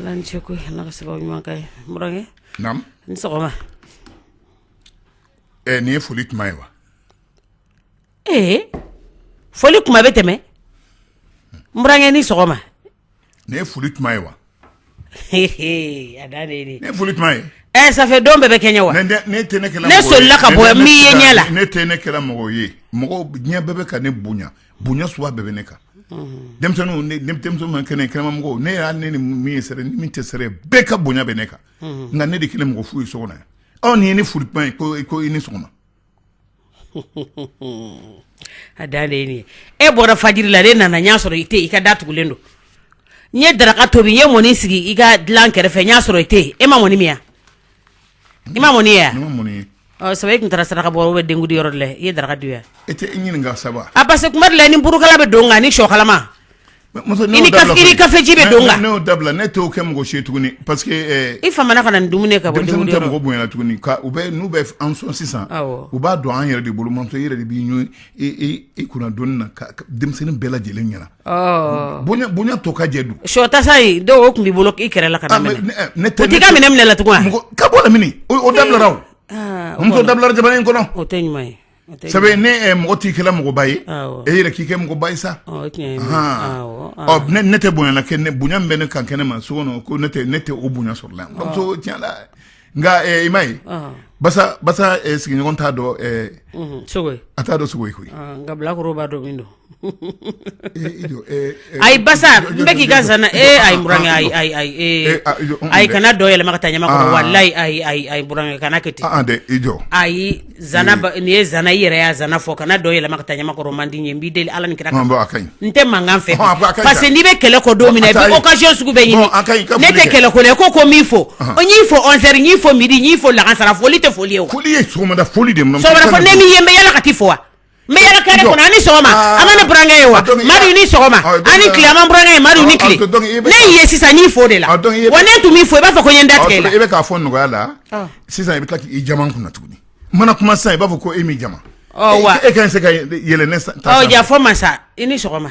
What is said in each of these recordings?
Ala ce ko ala ka sababu ɲuman k'a ye n burankɛ naamu i ni sɔgɔma ɛ nin ye foli tuma ye wa ee foli tuma bɛ tɛmɛ n burankɛ i ni sɔgɔma Nin ye foli tuma ye wa a da nin ye foli tuma ye ɛ ça fait don bɛɛ bɛ kɛɲɛ wa ne tɛ ne ne sola ka bɔ min ye ɲɛ la ne tɛ ne kɛra mɔgɔ ye mɔgɔ diɲɛ bɛɛ bɛ ka ne bonya bonya sugu bɛɛ bɛ ne kan denmisɛnnin kɛnɛ kɛnɛmamɔgɔ ne y'a ne ni min ye sɛrɛ ni min tɛ sɛrɛ bɛɛ ka bonya bɛ ne kan nka ne de kɛlen mɔgɔ fu ye so kɔnɔ yan aw nin ye ni foli tuma ye ko i ko i ni sɔgɔma a da ne bɔra fajiri la ne nana n y'a sɔrɔ i tɛ i ka da tugulen don n ye daraka tobi n ye mɔni sigi i ka dilan kɛrɛfɛ n y'a sɔrɔ i tɛ e ma mɔni min yan i ma mɔni yan sabu e tun taara saraka bɔ bɛ denkundi yɔrɔ la i ye daraka dun yan parce que kuma di la ni burukala bɛ don kan ni sogo kalama kafeji bɛ don ne dabila ne t'o kɛ mɔgɔ si ye tuguni parce que i fa kana dumuni ka mɔgɔ bonyayan tuguni n'u bɛ an sɔn sisan u b'a dɔn an yɛrɛ de bolo mantɔ yɛrɛ de bɛ i kun don na denmisɛnnin bɛɛ lajɛlen ɲɛna bonya to ka jɛ don sɔtasa dɔw tun b'i bolo i kɛra la ne tɛ ka minɛ ne la tugun ka bɔ o da dabila jamana in kɔnɔ o tɛ ɲuman ye sabu ne mɔgɔ t'i kɛla mɔgɔba ye e yɛrɛ k'i kɛ mɔgɔba ye sa ne tɛ bonya la kɛ ne bonya bɛ ne kan kɛnɛma so kɔnɔ ko ne ne tɛ o bonya sɔrɔ la tiɲɛ la nka i m'a ye basa basa sigiɲɔgɔn t'a dɔn sogo ye a t'a dɔn sogo ye koyi nka bilakoro b'a dɔn min don Ayi basa n bɛ k'i ka zana e ayi n burankɛ ayi kana dɔ yɛlɛma ka taa ɲamakɔrɔ walayi ayi n burankɛ kana kɛ ten dɛ ayi nin ye zana i yɛrɛ yan zana fɔ kana dɔ yɛlɛma ka taa ɲamakɔrɔ ma dɛ ne b'i deli ala ni kira n tɛ mankan fɛ parce que n'i bɛ kɛlɛ ko don min i bɛ occasion sugu bɛɛ ɲini ne tɛ kɛlɛ ko ko ko min i fo n y'i fo onze heures n y'i fo midi n y'i fo lagansara foli tɛ foli ye fo sɔgɔmada foli de fo ne min ye n bɛ yaala ka t'i fo wa N bɛ yaala kare kɔnɔ, a ni sɔgɔma, aa, a ma ne burankɛ ye wa, Madu i ni sɔgɔma, ɔ donc, a ni tile, a ma n burankɛ ye Madu i ni tile, ɔ donc i bɛ ka, ne y'i ye sisan n y'i fo o de la, ɔ donc i bɛ ka, wa ne tun m'i fo i b'a fɔ ko n ye n da tigɛ i la, ɔ donc i bɛ k'a fɔ nɔgɔya la, ɔ, sisan i bɛ tila k'i jaman n kunna tuguni, n mana kuma sisan i b'a fɔ ko e m'i jaman, ɔ wa, e kan tɛ se ka yɛlɛ ne ta sanfɛ, ɔ yafa n ma sa, i ni sɔgɔma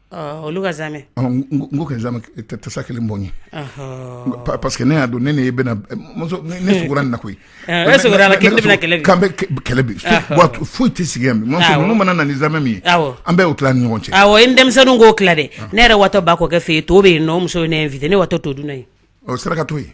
Olu ka zamɛ ko ka zamɛ tasa kelen bɔ n ye pa parce que ne b'a dɔn ne ne bɛna na koyi kɛlɛ bi foyi tɛ sigi yan minnu mana na ni zamɛ min ye an b'o tila ni ɲɔgɔn cɛ a ye denmisɛnnin ko tila dɛ ne yɛrɛ watɔ ba kɔ kɛ fɛ yen to bɛ yen nɔ muso ye ne invité ne watɔ to dun ye o saraka to yen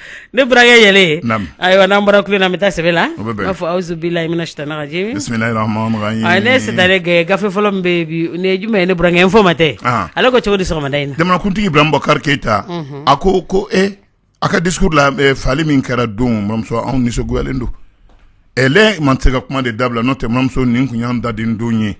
Ne burankɛ yɛlɛ ayiwa n'an bɔra kulu in na an bɛ taa sɛbɛn la an b'a fɔ awuzu bilahi mina sayitani rajimi bisimilahi rahamani rahimi ne se gɛn gafe fɔlɔ bɛ juma ye ne burankɛ Info-Matin ale ko cogo di sɔgɔmada in na jamanakuntigi Ibrahim Bubakar Keyita a ko ko a ka discours la fagali min kɛra don mamuso anw nisɔngoyalen don ale ma se ka kuma de dabila n'o tɛ mamuso nin tun y'an da den don ye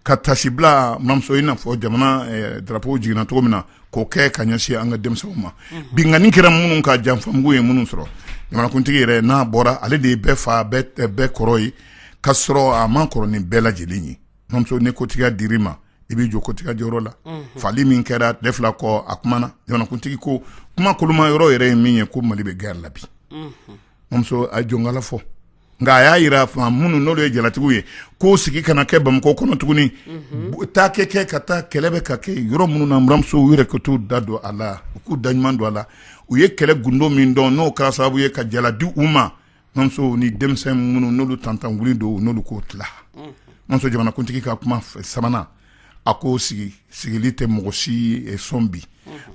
ka tasi bila mamuso i n'a fɔ jamana drapeau jiginna cogo min na k'o kɛ ka ɲɛsin an ka denmisɛnw ma binkanni kɛra minnu kan janfamugu ye minnu sɔrɔ jamanakuntigi yɛrɛ n'a bɔra ale de ye bɛɛ fa bɛɛ kɔrɔ ye ka sɔrɔ a man kɔrɔ ni bɛɛ lajɛlen ye mamuso ni kotigiya dira i ma i bɛ jɔ kotigiya jɔyɔrɔ la fagali min kɛra tile fila kɔ a kumana jamanakuntigi ko kuma koloma yɔrɔ yɛrɛ ye min ye ko mali bɛ gɛrɛ la bi mamuso a jɔnkala fɔ nka a y'a jira minnu n'o ye jalatigiw ye ko sigi kana kɛ bamakɔ kɔnɔ tuguni taa ka kɛ ka taa kɛlɛ bɛ ka kɛ yɔrɔ minnu na buranmuso u yɛrɛ ka t'u da don a la u k'u da ɲuman don a la u ye kɛlɛ gundo min dɔn n'o kɛra sababu ye ka jala di u ma mamuso ni denmisɛn minnu n'olu tantan wuli don n'olu k'o tila mamuso jamanakuntigi ka kuma sabanan a ko sigi sigili tɛ mɔgɔ si sɔn bi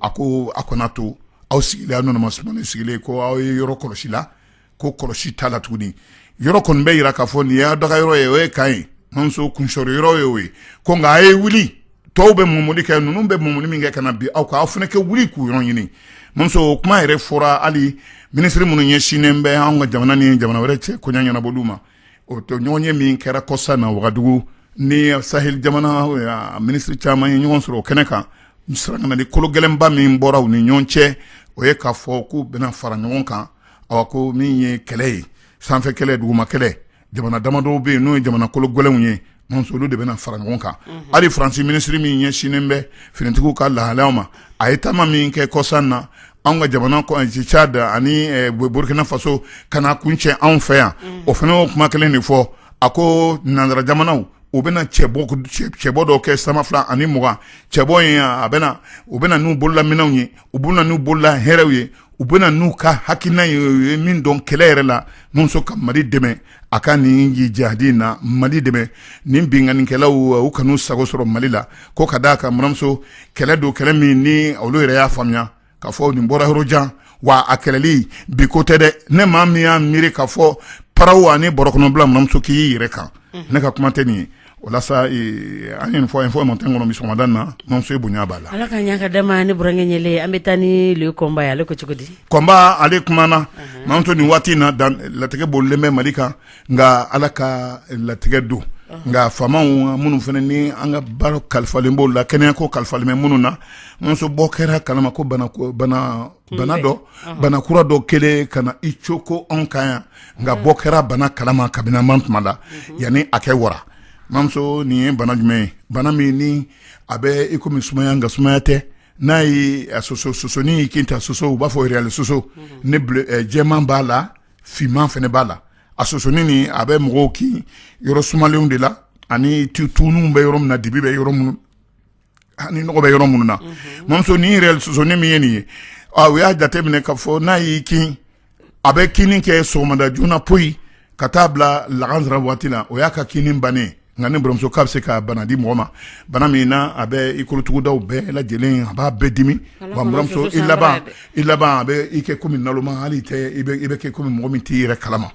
a ko a kana to aw sigilen aw nana masumalen sigilen ko aw ye yɔrɔ kɔlɔsi la ko kɔlɔsi t'a la tuguni yɔrɔ kɔni bɛ jira k'a fɔ nin y'aw dagayɔrɔ ye o ye kan ye mamuso kunsɔrɔ yɔrɔ ye o ye ko nka a ye wuli tɔw bɛ mumuni kɛ ninnu bɛ mumuni min kɛ ka na bi aw ka aw fana ka wuli k'u yɔrɔ ɲini mamuso kuma yɛrɛ fɔra hali minisiri minnu ɲɛsinnen bɛ an ka jamana ni jamana wɛrɛ cɛ koɲa ɲɛnabɔli ma o to ɲɔgɔnye min kɛra kɔsa in na wagadugu ni sahel jamana minisiri caman ye ɲɔgɔn sɔrɔ o kɛnɛ kan saratikan ni kolo gɛlɛnba min bɔra u ni ɲɔgɔn cɛ o ye k'a fɔ k'u bɛna fara ɲɔgɔn kan ɔ ko min ye kɛlɛ ye sanfɛ kɛlɛ duguma kɛlɛ jamana damadɔw bɛ yen n'o ye jamana kolo gɛlɛnw ye mamuso olu de bɛna fara ɲɔgɔn kan hali faransi minisiri min ɲɛsinnen bɛ finitigiw ka lahalaya ma a ye taama min kɛ kɔsa in na an ka jamana Tchad ani burukina faso ka na kuncɛ anw fɛ yan o fana y'o kuma kelen de fɔ a ko nansara jamanaw u bɛna cɛbɔ dɔw kɛ san ba fila ani mugan cɛbɔ in na u bɛna n'u bololaminɛnw ye u bɛna n'u bolola hɛrɛw ye u bɛna n'u ka hakilina ye u ye min dɔn kɛlɛ yɛrɛ la mamuso ka mali dɛmɛ a ka nin jihadi in na mali dɛmɛ nin binkannikɛlaw u kan'u sago sɔrɔ mali la ko ka d'a kan buranmuso kɛlɛ don kɛlɛ min ni olu yɛrɛ y'a faamuya k'a fɔ nin bɔra yɔrɔ jan wa a kɛlɛli bi ko tɛ dɛ ni maa min y'a miiri k'a fɔ paraw ani bɔrɔ kɔnɔ bila mamuso k'i y'i yɛrɛ kan ne ka kuma tɛ nin ye O la sa an ye nin fɔ Info-Matin kɔnɔ bi sɔgɔmada in na mamuso ye bonya b'a la ala ka ɲa ka da ne burankɛ yɛlɛ an bɛ taa ni Le Combat ye ale ko cogo di Combat ale kumana mamuso nin waati in na latigɛ bolilen bɛ mali kan nka ala ka latigɛ don nka faama minnu fana ni an ka baara kalifalen b'olu la kɛnɛya ko kalifalen bɛ minnu na mamuso bɔ kɛra a kalama ko bana bana dɔ bana kura dɔ kɛlen ka na i coko anw kan yan nka bɔ kɛra bana kalama kabiniman tuma la yanni a ka wara mamuso nin ye bana jumɛn ye bana min ni a bɛ iko sumaya nka sumaya tɛ n'a ye sosonin y'i kin ta soso u b'a fɔ réel sosonin jɛman b'a la finman fana b'a la a sosonin nin a bɛ mɔgɔw kin yɔrɔ sumalenw de la ani tuw bɛ yɔrɔ min na dibi bɛ yɔrɔ minnu ni nɔgɔ bɛ yɔrɔ minnu na mamuso nin réel sosonin min ye nin ye u y'a jate minɛ k'a fɔ n'a y'i kin a bɛ kini kɛ sɔgɔmada joona poyi ka taa bila lagansara waati la o y'a ka kini bannen nka ni baramuso k'a bɛ se ka bana di mɔgɔ ma bana min na a bɛ i kolotugudaw bɛɛ lajɛlen a b'a bɛɛ dimi wamuso i laban i laban a bɛ i kɛ kɔmi naloma hali i bɛ kɛ kɔmi mɔgɔ min t'i yɛrɛ kalama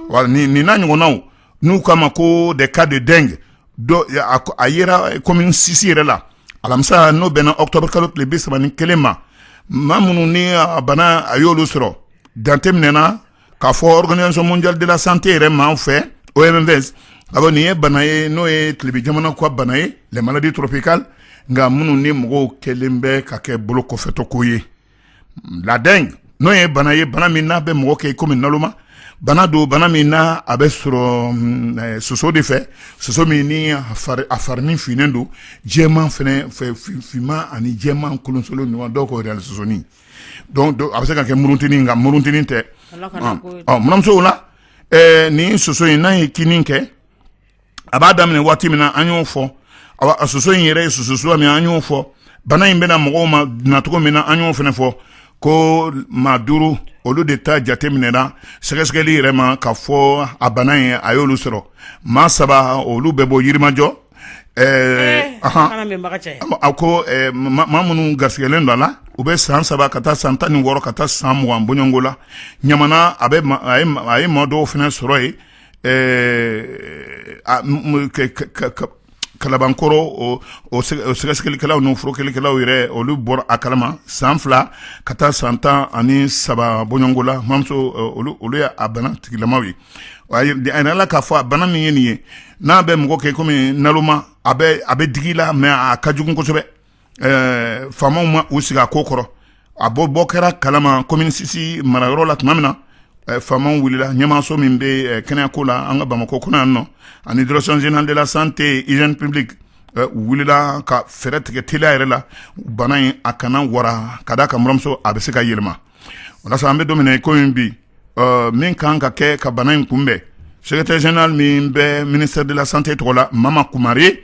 wa nin n'a ɲɔgɔnnaw n'u k'a ma ko des cas de dengue a yera commune six yɛrɛ la alamisa n'o bɛnna octobre kalo tile bi saba ni kelen ma maa minnu ni bana a y'olu sɔrɔ jate minɛna k'a fɔ organisation mondiale de la santé yɛrɛ ma fɛ OMS a nin ye bana ye n'o ye tilebin jamana ka bana ye les maladies tropicales nka minnu ni mɔgɔw kɛlen bɛ k'a kɛ bolo kɔfɛtɔ ko ye la dengue n'o ye bana ye bana min n'a bɛ mɔgɔ kɛ kɔmi naloma bana don bana min na a bɛ sɔrɔ mm, eh, soso de fɛ soso min ni a farinin finnen don jɛman fana finman ani jɛman kolonsolon ɲɔgɔn dɔw ko réel sosonin donc a bɛ se ka kɛ muruntinin nka muruntinin tɛ manamuso la eh, ni soso in n'a ye kini kɛ a b'a daminɛ waati min na an y'o fɔ a soso in yɛrɛ ye soso suguya min an y'o fɔ bana in bɛ na mɔgɔw ma nacogo min na an y'o fana fɔ ko maa duuru olu de ta jate minɛna sɛgɛsɛgɛli yɛrɛ ma k'a fɔ a bana in a y'olu sɔrɔ maa saba olu bɛ bɔ yirimajɔ eh, a ko eh, maa minnu garisɛgɛlen don a la u bɛ san saba ka taa san tan ni wɔɔrɔ ka taa san mugan bɔɲɔgɔnko la ɲamana a ye maa dɔw fana sɔrɔ yen ɛɛ kalabankɔrɔ o sɛgɛsɛgɛlikɛlaw n'o furakɛlikɛlaw yɛrɛ olu bɔra a kalama san fila ka taa san tan ani saba bɔɲɔgɔnko la mamuso olu ye a bana tigilamaw ye a yirala k'a fɔ a bana min ye nin ye n'a bɛ mɔgɔ kɛ kɔmi naloma a bɛ digi la mais a ka jugu kosɛbɛ faamaw ma u sigi a ko kɔrɔ a bɔ bɔ kɛra kalama commune six marayɔrɔ la tuma min na faamaw wulila ɲɛmaaso min bɛ kɛnɛyako la an ka bamakɔ kɔnɔ yan nɔ ani direction générale de la santé hygiène publique wulila ka fɛɛrɛ tigɛ teliya yɛrɛ la bana in a kana wara ka da a kan mamuso a bɛ se ka yɛlɛma o an bɛ don min na ko in bi min kan ka kɛ ka bana in kunbɛn secrétaire général min bɛ ministère de la santé tɔgɔ la mama kumare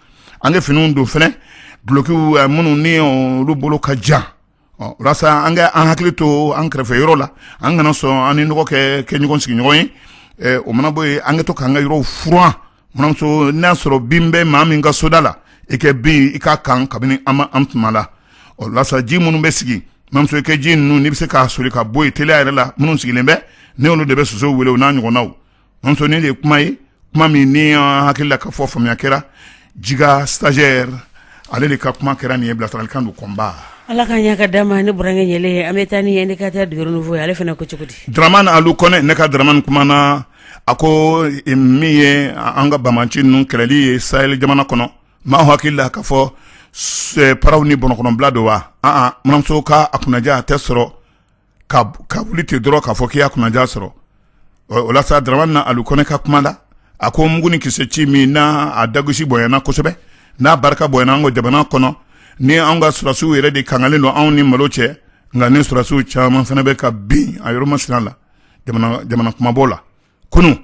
an ka finiw don fana dulokiw eh, minnu ni olu bolo ka jan ɔ walasa an ka an hakili to an kɛrɛfɛ yɔrɔ la an kana sɔn an ni nɔgɔ kɛ kɛ ɲɔgɔn sigiɲɔgɔn ye eh, o mana bɔ yen an ka to k'an ka yɔrɔw furan manamuso n'a sɔrɔ bin bɛ maa min ka soda la i kɛ bin i k'a kan kabini an ma an tuma la ɔ walasa ji minnu bɛ sigi manamuso i kɛ ji ninnu n'i bɛ se k'a soli ka bɔ yen teliya yɛrɛ la minnu sigilen bɛ ne olu de bɛ soso wele o n'a ɲɔgɔnnaw muso nin de ye kuma ye kuma min ni an hakili la k'a fɔ faamuya kɛra jiga stagiaire ale de ka kuma kɛra nin ye bilasiralikan don kɔnba ala ka ɲɛ ka d'a ma ne burankɛ ɲɛlen ye an bɛ taa ni indicateur du renouveau ale fana ko cogo di dramani alu kɔnɛ ne ka dramani kuma na a ko eh, min ye an ka banbaanci ninnu kɛlɛli ye sahel jamana kɔnɔ maa hakili la k'a fɔ eh, paran ni bɔrɔkɔnɔbila don wa aa manamuso ka a kunnaja a tɛ sɔrɔ ka ka wuli ten dɔrɔn k'a fɔ k'i y'a kunnaja sɔrɔ ɔ o la sa Daramani Alu Kɔnɛ ka kuma la, a ko mugu ni kisɛ ci min n'a a dagosi bonyana kosɛbɛ, n'a barika bonyana an ka jamana kɔnɔ, ni anw ka sɔrɔdasiw yɛrɛ de kangalen don anw ni malo cɛ, nka ni sɔrɔdasiw caman fana bɛ ka bin a yɔrɔ masina la jamana kunmabɔ la. kunun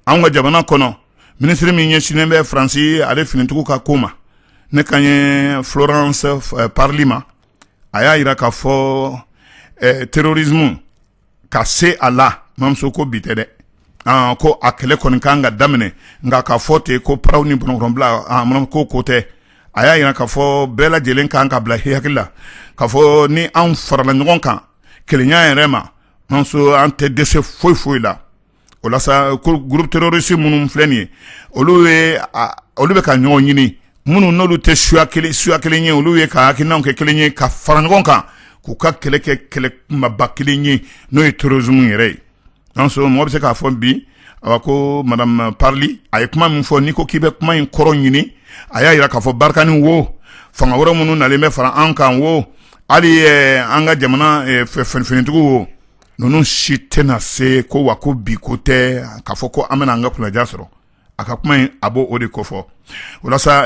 an ka jamana kɔnɔ minisiri min ɲɛsinnen bɛ faransi ale finitigiw ka ko ma ne kan ye Florence Parly ma a y'a jira k'a fɔ terrorisme ka se a la mamuso ko bi tɛ dɛ ko a kɛlɛ kɔni ka kan ka daminɛ nka k'a fɔ ten ko paran ni bɔrɔkɔnɔbila ko tɛ a y'a jira k'a fɔ bɛɛ lajɛlen kan k'a bila hakili la k'a fɔ ni an farala ɲɔgɔn kan kelenya yɛrɛ ma an an tɛ dɛsɛ foyi foyi la o groupe terroriste minnu filɛ nin ye olu olu bɛ ka ɲɔgɔn ɲini minnu n'olu tɛ suya kelen suya kelen ye olu ye ka hakilina kɛ kelen ye ka fara ɲɔgɔn kan k'u ka kɛlɛ kɛ kɛlɛ kunbaba kelen ye n'o ye terrorisme yɛrɛ ye an mɔgɔ bɛ se k'a fɔ bi a ko madame Parly a ye kuma min fɔ n'i ko k'i bɛ kuma in kɔrɔ ɲini a y'a jira k'a fɔ Barkhane wo fanga wɛrɛ minnu nalen bɛ fara an kan wo hali an ka jamana finitigiw wo ninnu si tɛna se ko wa ko bi ko tɛ k'a fɔ ko an bɛna an ka kunnaja sɔrɔ a ka kuma in a b'o de kofɔ walasa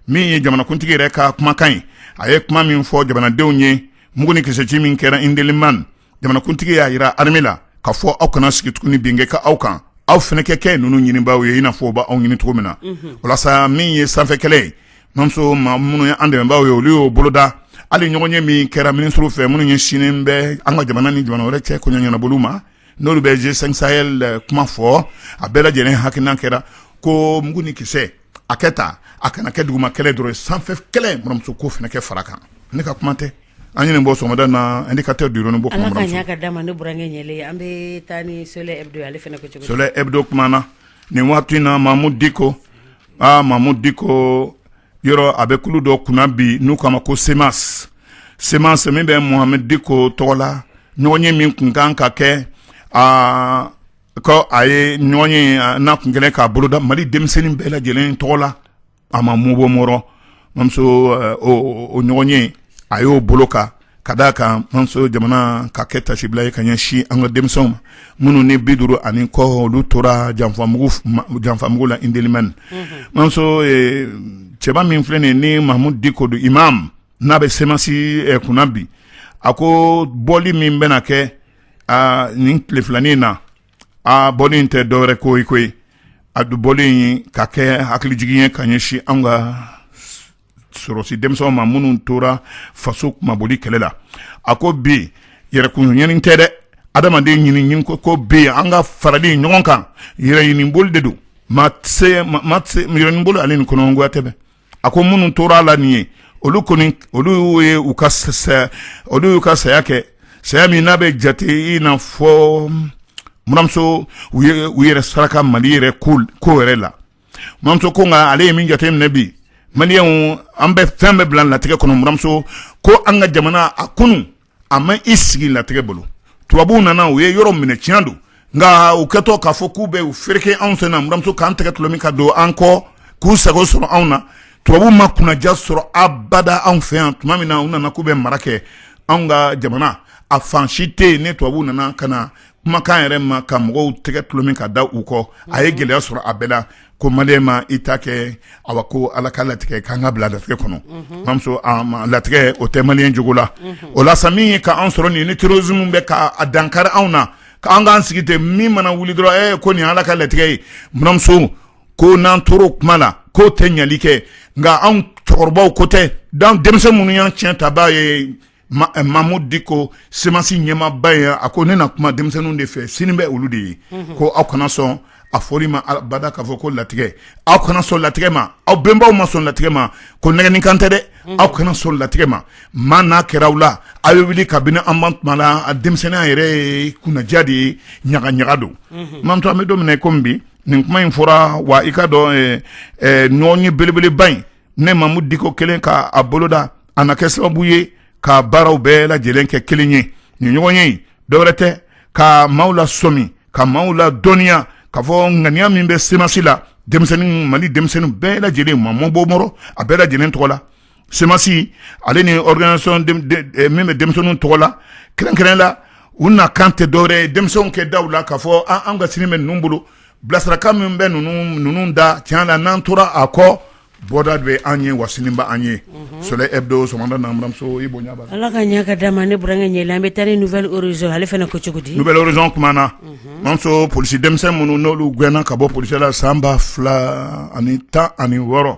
min ye jamanakuntigi yɛrɛ ka kumakan ye a ye kuma min fɔ jamanadenw ye mugu ni kisɛci min kɛra Indelimane jamanakuntigi y'a jira armée la k'a fɔ aw kana sigi tuguni bin kɛ aw kan, aw fana ka kɛ ninnu ɲinibaaw ye i n'a fɔ u b'aw ɲini cogo min na, unhun, o la sa min ye sanfɛ kɛlɛ ye Mamuso maa minnu ye an dɛmɛnbaaw ye olu y'o boloda hali ɲɔgɔnye min kɛra minisiriw fɛ minnu ɲɛsinnen bɛ an ka jamana ni jamana wɛrɛ cɛ kɔɲɔ ɲɛnabɔliw ma n'olu bɛ G5 Sahel kuma fɔ a bɛɛ lajɛlen hakilina kɛra ko mugu ni kisɛ a kɛ tan a kana kɛ duguma kɛlɛ dɔrɔn ye sanfɛ kɛlɛ buranmuso k'o fana kɛ fara a kan ne ka kuma tɛ an ye nin bɔ sɔgɔmada na Indicateur du Renouveau Soleil Hebdo kumana nin waati in na Mahmoud Dicko aa Mahmoud Dicko yɔrɔ a bɛ kulu dɔ kunna bi n'u k'a ma ko CMAS CMAS min bɛ Mohamed Dicko tɔgɔ la ɲɔgɔnye min tun kan ka kɛ aa ko a ye ɲɔgɔnye n'a tun kɛlen k'a boloda Mali denmisɛnnin bɛɛ lajɛlen tɔgɔ la a ma mɔbɔ buranmuso o ɲɔgɔnye a y'o boloka ka d'a kan mamuso jamana ka kɛ taasibila ye ka ɲɛsin an ka denmisɛnw ma minnu ni bi duuru ani kɔ olu tora janfamu janfamugu la Indelimane mamuso cɛba min filɛ nin ni Mahmoud Dicko don imam n'a bɛ CMAS kunna bi a ko bɔli min bɛna kɛ nin tile filanin in na a bɔli in tɛ dɔwɛrɛ ko ye ko a dun bɔli in ka kɛ hakilijigin ye ka ɲɛsin an ka sɔrɔsi denmisɛnw ma minnu tora faso kunmabɔli kɛlɛ la a ko bi yɛrɛkun ɲini tɛ dɛ adamaden ɲini ko bi an ka farali ɲɔgɔn kan yɛrɛɲiniboli de don yɛrɛɲiniboli ale ni kɔnɔgoya tɛ a ko minnu tora a la nin ye olu kɔni olu ye u ka olu y'u ka saya kɛ saya min n'a bɛ jate i n'a fɔ buranmuso u yɛrɛ saraka Mali yɛrɛ ko yɛrɛ la buranmuso ko nka ale ye min jate minɛ bi maliyɛnw an bɛ fɛn bɛɛ bila latigɛ kɔnɔ buranmuso ko an ka jamana a kunun a ma i sigi latigɛ bolo tubabuw nana u ye yɔrɔ minɛ tiɲɛ don nka u kɛtɔ k'a fɔ k'u bɛ u fereke anw sen na buranmuso k'an tɛgɛ tɔlɔmi ka don an kɔ k'u sago sɔrɔ anw na tubabu ma kunnaja sɔrɔ abada anw fɛ yan tuma min na u nana k'u bɛ mara kɛ anw ka jamana a fan si tɛ yen ni tubabu nana ka na kumakan yɛrɛ ma ka mɔgɔw tɛgɛ tɔlɔmi ka da u kɔ a ye gɛlɛya sɔrɔ a bɛɛ la ko maliyɛn ma i ta kɛ awa ko ala ka latigɛ k'an ka bila latigɛ kɔnɔ buranmuso latigɛ o tɛ maliyɛn jogo la o la sa min ye k'an sɔrɔ nin ni terrorisme bɛ k'a dankari anw na k'an k'an sigi ten min mana wuli dɔrɔn e ko nin ala ka latigɛ ye buranmuso ko n'an tora o kuma la k'o tɛ ɲali kɛ nka anw cɛkɔrɔbaw ko tɛ denmisɛn minnu y'an tiɲɛtabaa ye mamudu diko semasi ɲɛmaaba ye a ko ne na kuma denmisɛnninw de fɛ sini bɛ olu de ye ko aw kana sɔn a fɔli ma abada k'a fɔ ko latigɛ aw kana sɔn latigɛ ma aw bɛnbaw ma sɔn latigɛ ma ko nɛgɛnnikan tɛ dɛ aw kana sɔn latigɛ ma maa n'a kɛra aw la aw ye wuli ka bɛna an tuma la a denmisɛnninya yɛrɛ ye kunnaja de ye ɲaga ɲaga don mamuso an bɛ don min na kɔmi bi nin kuma in fɔra wa i k'a dɔn ɲɔgɔnye belebeleba in ne mamudu diko kelen k'a boloda a na kɛ sababu ye ka baaraw bɛɛ lajɛlen kɛ kelen ye nin ɲɔgɔn ye dɔwɛrɛ tɛ ka maaw la sɔmi ka maaw la dɔnniya k'a fɔ ŋaniya min bɛ semasi la denmisɛnnin mali denmisɛnnin bɛɛ lajɛlen mamu b'o mɔrɔ a bɛɛ lajɛlen tɔgɔ la semasi ale ni organisation eh, min bɛ denmisɛnninw tɔgɔ la kɛrɛnkɛrɛn la u nakan tɛ dɔwɛrɛ ye denmisɛnw kɛ daw la k'a fɔ an ka sini bɛ ninnu bolo bilasirakan min bɛ ninnu da tiɲɛ la n'an tora a kɔ bɔda bɛ an ye wa sini bɛ an ye soleil hebdo sɔgɔmada na buranmuso i bonya b'a la ala ka ɲɛ ka d'a ma ne burankɛ ɲɛ an bɛ taa ni nouvel horizon ale fana ko cogo di nouvel horizon kumana mamuso polisi denmisɛnnin minnu n'olu gɛnna ka bɔ polisi la san ba fila ani tan ani wɔɔrɔ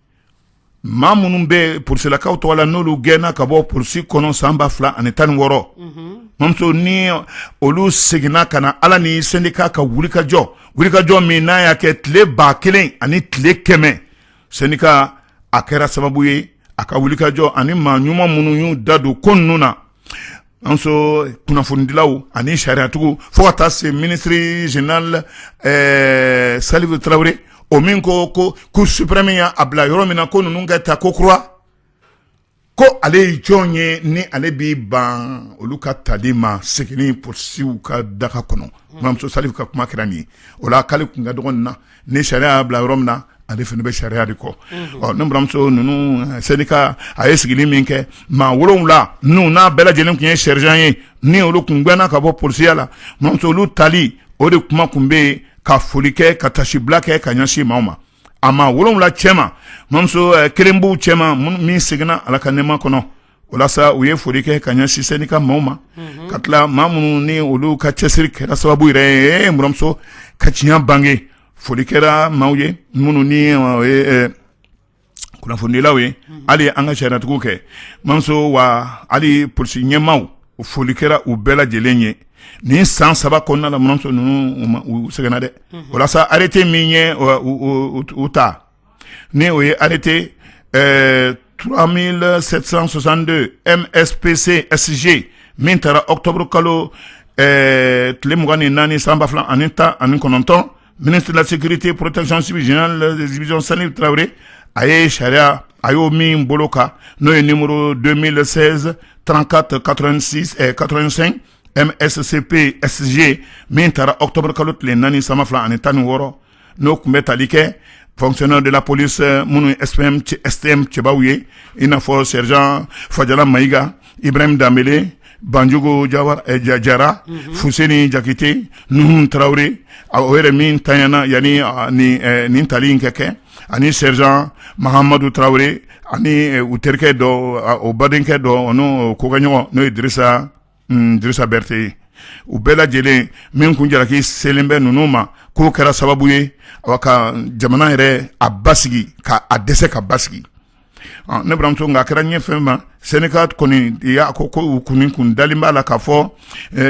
maa minnu bɛ polisilakaw tɔgɔ la n'olu gɛnna ka bɔ polisi kɔnɔ san ba fila ani tan ni wɔɔrɔ mamuso ni olu seginna ka na ala ni syndicat ka wulikajɔ wulikajɔ min n'a y'a kɛ tile ba kelen ani tile kɛmɛ syndicat a kɛra sababu ye a ka wulikajɔ ani maa ɲuman minnu y'u da don ko ninnu na mamuso kunnafonidilaw ani sariyatigiw fo ka taa se minisiri général salifu tarawele o min ko cour suprême y'a bila yɔrɔ min na ko ninnu ka ta kokura ko ale ye jɔn ye ni ale b'i ban olu ka tali ma segin polisiw ka daga kɔnɔ mamuso salifu ka kuma kɛra nin o la k'ale kun ka dɔgɔ nin na ni sariya y'a bila yɔrɔ min na ale fana bɛ sariya de kɔ ne buranmuso ninnu syndicat a ye sigili min kɛ maa wolowula ninnu bɛɛ lajɛlen tun ye sergent ye ni olu tun gɛnna ka bɔ polisiya la mamuso olu tali o de kuma tun bɛ yen ka foli kɛ ka tasibila kɛ ka ɲɛsin maaw ma a maa wolowula cɛ ma mamuso kelen b'u cɛ ma min seginna ala ka nɛɛma kɔnɔ walasa u ye foli kɛ ka ɲɛsin syndicat maaw ma ka tila maa minnu ni olu ka cɛsiri kɛra sababu yɛrɛ ye mamuso ka tiɲɛ bange foli kɛra maaw ye minnu ni kunnafonidilaw ye hali an ka sariyatigiw kɛ mamuso wa hali polisi ɲɛmaaw foli kɛra u bɛɛ lajɛlen ye nin san saba kɔnɔna na ninnu u sɛgɛnna dɛ walasa arrêté min ye u ta ni o ye arrêté ɛɛ 3762 MSPC SG min taara octobre kalo ɛɛ tile mugan ni naani san ba fila ani tan ani kɔnɔntɔn ministre de la sécurité protection civile général de division Salif Traoré a ye sariya a y'o min bolo kan n'o ye numéro 2016 34 86 ɛɛ 85 MSCP SG min taara octobre kalo tile naani san ba fila ani tan ni wɔɔrɔ n'o tun bɛ tali kɛ fonctionnaires de la police minnu CSTM cɛbaw ye i n'a fɔ sergent fajala mayiga ibrahim danbele banjugu jara fuseni jakite nuhun tarawele a o yɛrɛ min tanyana yani nin tali in ka kɛ ani sergent mahamadu tarawele ani u terikɛ dɔ o badenkɛ dɔ n'u kokɛɲɔgɔn n'o ye drisa drisa berete u bɛɛ lajɛlen min tun jalaki selen bɛ ninnu ma k'o kɛra sababu ye a ka jamana yɛrɛ a basigi ka a dɛsɛ ka basigi ne buranmuso nka a kɛra ɲɛ fɛn ma syndicat kɔni y'a ko ko u kun kun dalen b'a la ka fɔ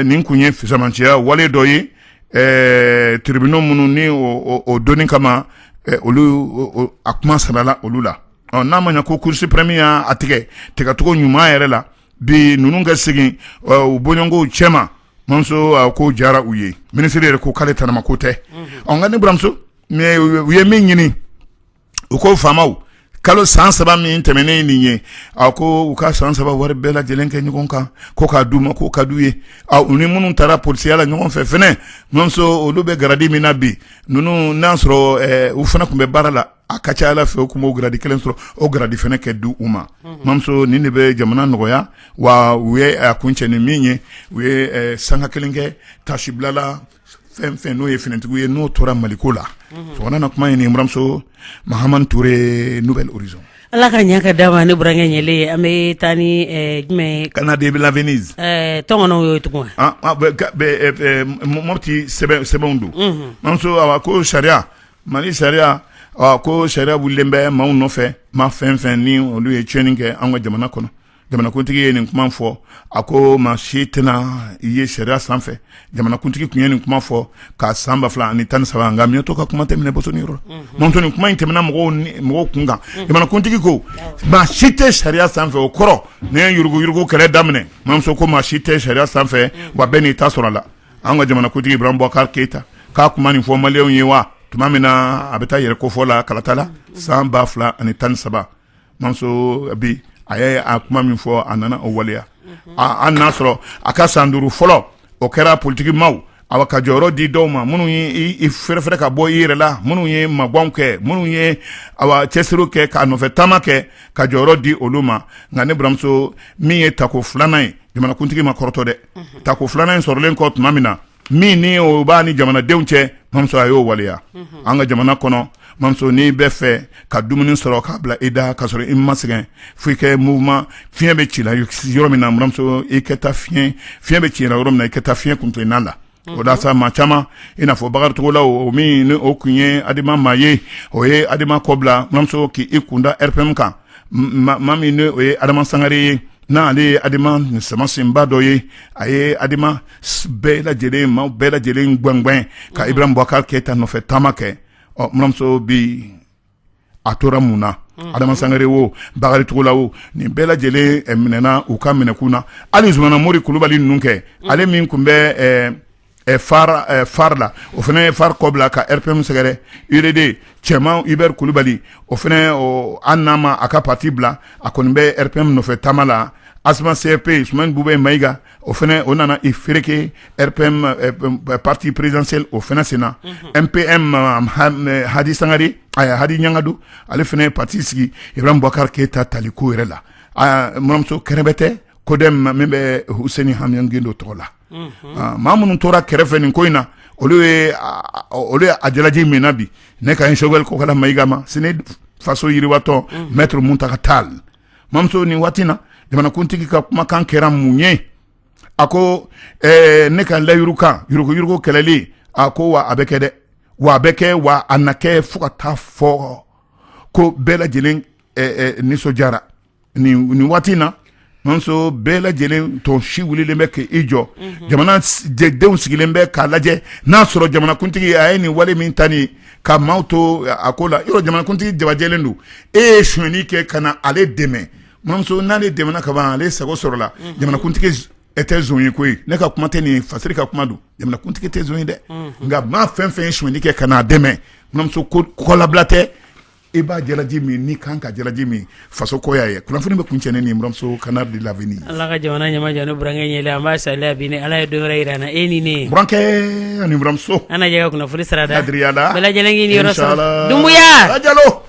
nin tun ye fisamanciya wale dɔ ye tribunal minnu ni o doni kama olu a kuma sarala olu la ɔ n'a ma ɲa ko cour suprême y'a a tigɛ tigɛcogo ɲuman yɛrɛ la bi ninnu ka segin u bɔɲɔgɔnw cɛma mamuso ko diyara u ye minisiri yɛrɛ ko k'ale tanama ko tɛ ɔ nka ne buranmuso u ye min ɲini u ko faama kalo san saba min tɛmɛnen nin ye a ko u ka san saba wari bɛɛ lajɛlen kɛ ɲɔgɔn kan ko k'a di u ma ko ka di u ye u ni minnu taara polisiya la ɲɔgɔn fɛ mamuso olu bɛ garadi min na bi ninnu n'a sɔrɔ u fana tun bɛ baara la a ka ca ala fɛ u tun b'o garadi kelen sɔrɔ o garadi fana ka di u ma mamuso nin de bɛ jamana nɔgɔya wa u ye a kuncɛ ni min ye u ye sanga kelen kɛ taasibila la fɛn fɛn n'o ye finitigiw ye n'o tora maliko la fanga na kuma buranmuso Mahamane Touré Nouvel Horizon ala ka ɲɛ ka da ma ne burankɛ ɲɛ an bɛ taa ni jumɛn Canard de la Venise tɔn o ye Togo Mopti sɛbɛn don mamuso ko sariya Mali sariya ko sariya wililen bɛ maaw nɔfɛ maa fɛn fɛn ni olu ye tiɲɛni kɛ an ka jamana kɔnɔ jamanakuntigi ye nin kuma fɔ a ko maa si tɛna i ye sariya sanfɛ jamanakuntigi tun ye nin kuma fɔ ka san ba fila ani tan ni saba nka mi to ka kuma tɛmɛn yɔrɔ ma ni kuma in tɛmɛna mɔgɔw mɔgɔw kun kan jamanakuntigi ko maa si tɛ sariya sanfɛ o kɔrɔ ne ye yuruguyurugu kɛlɛ daminɛ mamuso ko maa si tɛ sariya sanfɛ wa bɛɛ n'i ta sɔrɔ a la an ka jamanakuntigi ibrahim bubakari keyita ka kuma nin fɔ malidenw ye wa tuma min na a bɛ taa yɛrɛ kofɔ la kalata la san ba fila ani tan ni saba mamuso bi a y' a kuma min fɔ a nana o waleya an n'a sɔrɔ a ka san duuru fɔlɔ o kɛra politigi maaw a ka jɔyɔrɔ di dɔw ma minnu y'i feere ka bɔ i yɛrɛ la minnu ye mabɛn kɛ minnu ye cɛsiri kɛ k'a nɔfɛ taama kɛ ka jɔyɔrɔ di olu ma nka ne baramuso min ye tako filanan ye jamanakuntigi ma kɔrɔtɔ dɛ tako filanan in sɔrɔlen kɔ tuma min na min ni o b'a ni jamanadenw cɛ mamuso a y'o waleya an ka jamana kɔnɔ mamuso n'i bɛ fɛ ka dumuni sɔrɔ k'a bila i da ka sɔrɔ i ma sɛgɛn fo i kɛ mouvement fiɲɛ bɛ ci la yɔrɔ min na mamuso i kɛ taa fiɲɛ bɛ ci la yɔrɔ min na i ka taa fiɲɛ kuntilenna la o da sa maa caman i n'a fɔ bakari togola o min ni o tun ye adema maa ye o ye adema kɔbila mamuso k' i kun da rpm kan maa min o ye adama sangare ye n'ale ye adema nin samasenba dɔ ye a ye adema bɛɛ lajɛlen maa bɛɛ lajɛlen gɛngɛn ka ibrahim bubakari keyita nɔfɛ taama kɛ ɔ mamuso bɛ a tora mun na adama sangare o bakari togola o nin bɛɛ lajɛlen minɛna u ka minɛkun na hali zumana mori kulubali ninnu kɛ ale min tun bɛ fare la o fana ye fare kɔbila ka rpm sɛgɛrɛ udd cɛman hubert kulubali o fana an n'a ma a ka pati bila a kɔni bɛ rpm nɔfɛ taama la asma cfp sumeyilu bubɛyi mayiga o fana o nana i fereke rpm pati présidentiel o fana sen na mpm hadi sangari a ye hadi ɲangadu ale fana ye pati sigi ibrahim bubakari keyita tali ko yɛrɛ la mamuso kɛrɛbɛtɛ codem min bɛ huseni amiyɔn gindo tɔgɔ la maa minnu tora kɛrɛfɛ nin ko in na olu olu ye a jalaji min na bi ne kan sogɛli kokala mayiga ma cnid faso yiriwa tɔn mɛtiri muntaga tali mamuso nin waati na jamanakuntigi ka kumakan kɛra mun ye a ko eh, ne ka layidu kan yuruguyurugu kɛlɛli a ko wa a bɛ kɛ dɛ wa a bɛ kɛ wa a na kɛ fo ka taa fɔ ko bɛɛ lajɛlen eh, eh, nisɔndiyara nin nin waati na mamuso bɛɛ lajɛlen tɔn si wulilen bɛ k'i jɔ mhm. jamana denw sigilen bɛ k'a lajɛ n'a sɔrɔ jamanakuntigi a ye nin wale min ta nin ka maaw to a ko la yɔrɔ jamanakuntigi jabajɛlen don e ye sonyɛni kɛ ka na ale dɛmɛ mamuso n'ale dɛmɛna ka ban ale sago sɔrɔla jamanakuntigi e tɛ son ye koyi ne ka kuma tɛ nin fasiri ka kuma don jamanakuntigi tɛ son ye dɛ nka maa fɛn fɛn ye sonyɛni kɛ ka na a dɛmɛ mamuso ko labila tɛ e b'a jalaji min n'i kan ka jalaji min faso ko y'a ye kunnafoni bɛ kuncɛ ni n buramuso Canal de l'Avenir ala ka jamana ɲɛma jɔ ne burankɛ ɲɛli an b'a saliya bi ni ala ye dɔwɛrɛ yira an na e ni ne burankɛ ani buramuso an na jɛ ka kunnafoni sira da adiriya la bɛɛ lajɛlen k'i niyɔrɔ sɔrɔ inshallah dumbuya ajalo